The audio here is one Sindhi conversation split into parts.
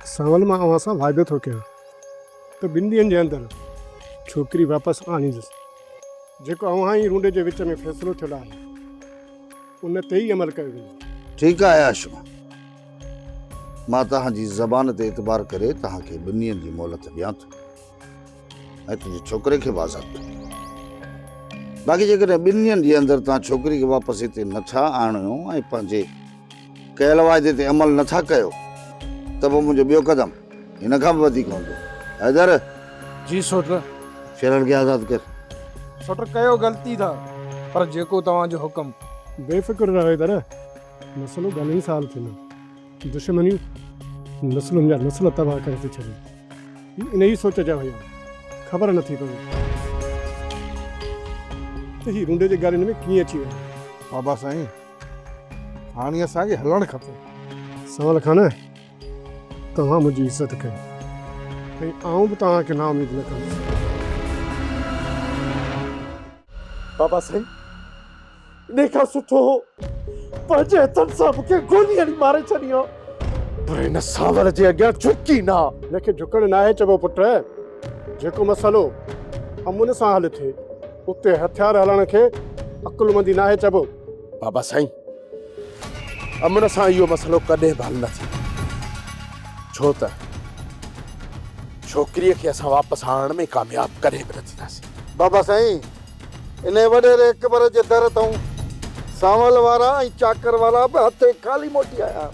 ساول مان اوهان سان واعدو ٿو ڪيان ته ٻن ڏينهن جي اندر ڇوڪري واپس آڻيندس. جيڪو اوهان ۽ رونڊي جي وچ ۾ فيصلو ٿيل آهي، ان تي ئي عمل ڪيو ويندو. ٺيڪ آهي آشو. مان توهان جي زبان تي اعتبار ڪري توهان کي ٻن ڏينهن جي مهلت ڏيان ٿو. ۽ تنهنجي ڇوڪري کي به آزاد ڪندو. باقي جيڪڏهن ٻن ڏينهن جي اندر توهان ڇوڪري کي واپس هتي نٿا آڻيو ۽ پنهنجي ڪيل واعدي تي عمل نٿا ڪيو ته پوء منهنجو ٻيو قدم هن کان به وڌيڪ هوندو. حيدر! جي سوٽر! شيرن کي آزاد ڪر. سوٽر ڪيو غلطي ٿا پر جيڪو توهان جو حڪم. بي فڪر رهه حيدر! مسئلو گهڻي سال ٿيندو. دشمنيون نسلن جا نسل تباهه ڪري ٿي ڇڏين. هي انهيء سوچ جا هيا. خبر نه ٿي پوي ته هي رونڊي جي ڳالهين ۾ ڪيئن اچي ويا. بابا سائين هاڻي اسان کي هلڻ کپي. سنوال خان توهان منهنجي عزت ڪئي ۽ آئون به توهان کي نااميد نه ڪندس. بابا سائين انهي کان سٺو هو پنهنجي هٿن سان مون کي گولي هڻي ماري ڇڏي ها. پر هن سانوڻ جي اڳيان جهڪ ئي نه ها. هن کي جهڪڻ ناهي چئبو پٽ. جيڪو مسئلو امن سان حل ٿئي اتي هٿيار هلائڻ کي عقلمندي ناهي چئبو. بابا سائين امن سان اهو مسئلو ڪڏهن به حل نه ٿيندو. ڇو ته ڇوڪريء کي اسان واپس آڻڻ ۾ ڪامياب ڪڏهن به نه ٿينداسين. بابا سائين! انهيء وڏيري قبر جي در تائون سانول وارا ۽ چاڪر وارا به هٿين خالي موٽي آيا ها.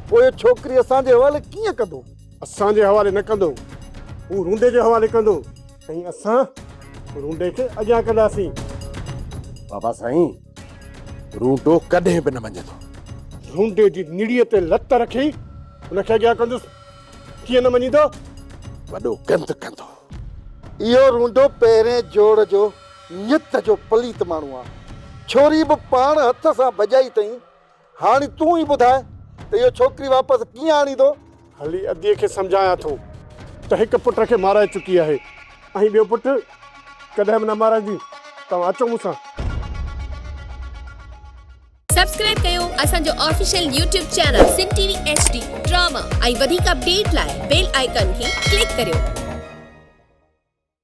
پوء ڇوڪري اسان جي حوالي ڪيئن ڪندو؟ اسان جي حوالي نه ڪندو. هو رونڊي جي حوالي ڪندو ۽ اسان رونڊي کي اڳيان ڪنداسين. بابا سائين، رونڊو ڪڏهن به نه مڃيندو. رونڊي جي نڙيء تي لت رکي ان کي اڳيان ڪندس. ڪيئن نه مڃيندو؟ وڏو گند ڪندو. اهو رونڊو پهرين جوڙ جو نيت جو پليت ماڻهو آ. ڇوري به پاڻ هٿ سان ڀڄائي تئين. هاڻي تون ئي ٻڌاء ته اهو ڇوڪري واپس ڪيئن آڻيندو؟ هلي ادي کي سمجهايان ٿو ته هڪ پٽ کي مارائي چڪي آهي ۽ ٻيو پٽ ڪڏهن به نه مارائيندي. توهان اچو مون سان. سبسڪرائب ڪيو اسان جو official YouTube channel Sindh T V H D drama ۽ وڌيڪ اپڊيٽ لاء بيل آئيڪان کي ڪلڪ ڪريو.